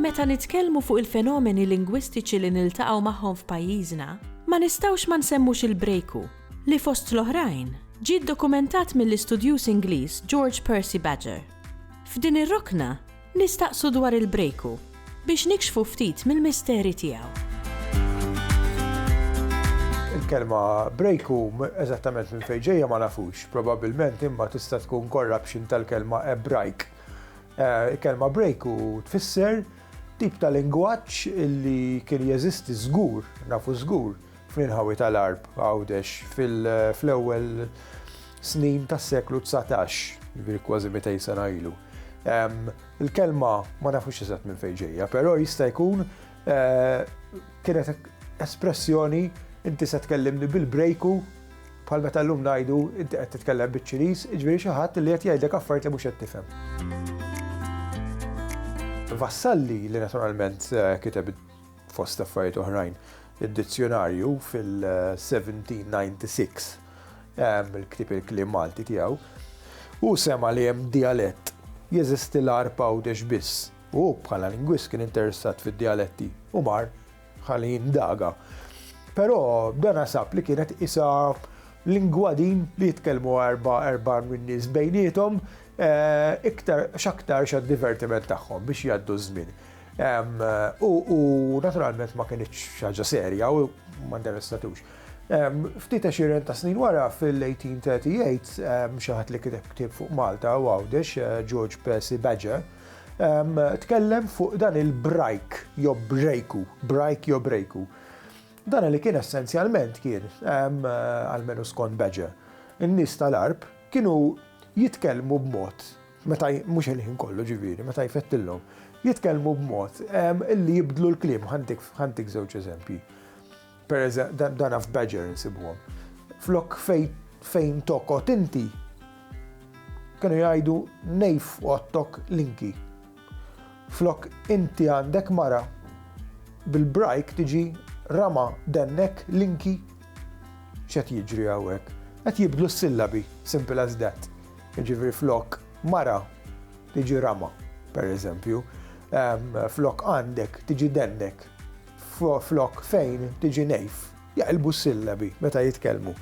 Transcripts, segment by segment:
Meta nitkellmu fuq il-fenomeni lingwistiċi li niltaqgħu magħhom f'pajjiżna, ma nistgħux ma nsemmux il-brejku, li fost l-oħrajn ġie dokumentat mill-istudjuż Ingliż George Percy Badger. F'din ir-rokna, Nistaqsu dwar il-Breaku biex nikxfu ftit mill-misteri tiegħu. Il-kelma Breaku eżattament minn fejn ġejja ma nafux, probabbilment imma tista' tkun corruption tal-kelma Ebrajk. Eh, il-kelma Breaku tfisser tip ta' lingwaġġ li kien jeżisti żgur, nafu żgur, fl-inħawi tal-arb għawdex fl-ewwel snin tas-seklu dsatax, jiġifieri kważi 200 sena ilu. Il-kelma ma nafux eżatt minn fejn ġejja, però jista' jkun kienet espressjoni inti se tkellimni bil-brejku bħal meta llum ngħidu inti qed titkellem biċ-Ċiniż, jiġifieri xi ħadd li qed jgħidlek affarijiet li mhux qed tifhem. Vassalli li naturalment kiteb fost affarijiet oħrajn id-dizzjonarju fil-1796, il-ktib il-kliem Malti tiegħu, u sema li hemm dialett jeżisti l-arpa għawdex biss. U bħala lingwist kien interessat fid-dialetti u mar ħalli jindaga. Però dan sab li kienet isa lingwa din li jitkellmu erba' erba' minn nies bejnietom eh, iktar x'aktar xa divertiment tagħhom biex jgħaddu żmien. U naturalment ma kienx ħaġa serja u ma interessatux. Ftit għexieren ta' snin wara, fil-1838, xi ħadd li kiteb ktieb fuq Malta u Għawdex, George Percy Badger, tkellem fuq dan il-brajk jew brejku, brajk jew brejku. Dan li kien essenzjalment kien, almenu skont Badger, in-nies tal-għarb kienu jitkellmu b'mod, meta, mhux il-ħin kollu ġifieri, meta jfettillhom, jitkellmu b'mod li jibdlu l-kliem. Ħa ntik żewġ eżempji. Per eżempju, dan f' Badger insibuhom. Flok fejn tokot inti, kienu jgħidu nejf ottok linki. Flok inti għandek mara, bil-brajk tiġi rama dennek linki. X'qed jiġri hawnhekk? Qed jibdlu s-sillabi, simple as that. Jiġifieri flok mara tiġi rama, per eżempju, flok għandek tiġi dennek. flok fejn tiġi nejf, jaqilbu s-sillabi meta jitkellmu.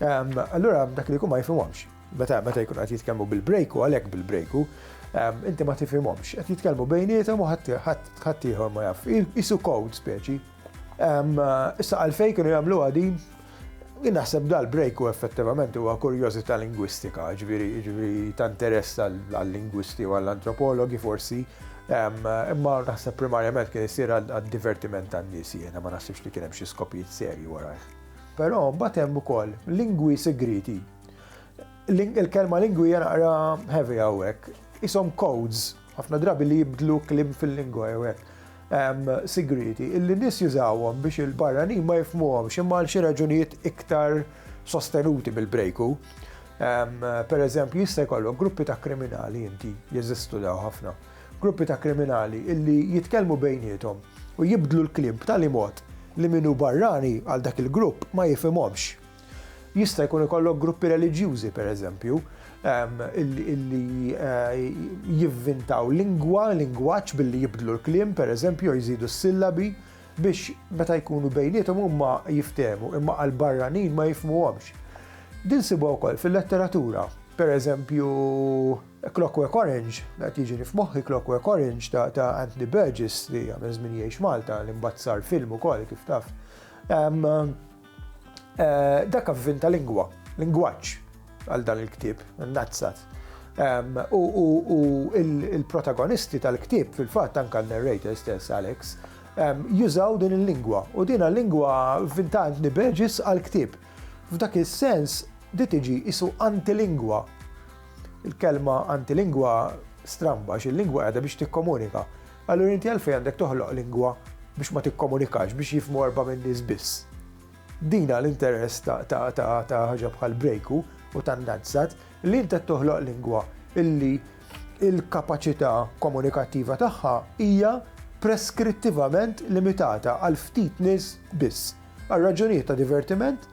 Ehm, allura dak li jkun ma jifhimhomx. Meta meta jkun qed jitkellmu bil-brejku għalhekk bil-brejku, ehm, inti ma tifhimhomx. Qed jitkellmu bejniethom u ħadd ieħor ma jaf. Isu kod speċi. Ehm, issa għalfejn kienu jagħmlu għadi Jien naħseb dal break u effettivament huwa kurjożità lingwistika, ġifieri ġifieri ta' interess għal-lingwisti u għall-antropologi forsi, imma naħseb primarjament kien isir għad-divertiment tan-nies jiena ma naħsibx li kien hemm xi skopijiet serji warajh. Però mbagħad hemm ukoll lingwi sigrieti. Il-kelma lingwi hija naqra heavy hawnhekk. Qishom codes Ħafna drabi li jibdlu kliem fil-lingwa jew hekk hemm sigrieti illi nies jużawhom biex il-barranin ma jifhmuhomx imma għal xi raġunijiet iktar sostenuti mill-Brejku. Pereżempju, jista' jkollok gruppi ta' kriminali inti, jeżistu daw ħafna, gruppi ta' kriminali illi jitkellmu bejniethom u jibdlu l-kliem b'tali mod li min hu barrani għal dak il-grupp ma jifhimhomx. Jista' jkun ikollok gruppi reliġjużi, per eżempju, illi jivvintaw lingwa, lingwaġġ billi jibdlu l-kliem, per eżempju, jew jżidu s-sillabi, biex meta jkunu bejniethom huma jiftehmu, imma għal barranin ma jifhmuhomx. Din nsibuha wkoll fil-letteratura. Per eżempju, Clockwork Orange, qed jiġini f'moħħi Clockwork Orange ta' Anthony Burgess li għamel żmien jgħix Malta, li mbagħad sar film ukoll kif taf. Dak avvin ta' lingwa, lingwaġġ għal dan il-ktieb, Nazzat. U l-protagonisti tal-ktieb fil-fatt anke n-narrator stess, Alex, jużaw din il-lingwa u din hija lingwa vintant Nibeġis għall-ktieb. F'dak is-sens di tiġi qisu antilingwa. Il-kelma antilingwa stramba għax il-lingwa qiegħda biex tikkomunika. Allura inti għalfejn għandek toħloq lingwa biex ma tikkomunikax, biex jifhmu erbgħa minn nies biss? Din għal interess ta' ħaġa bħal Brejku u ta' Nadsat li int qed toħloq lingwa illi l-kapaċità komunikattiva tagħha hija preskrittivament limitata għal ftit nies biss, għal raġunijiet ta' divertiment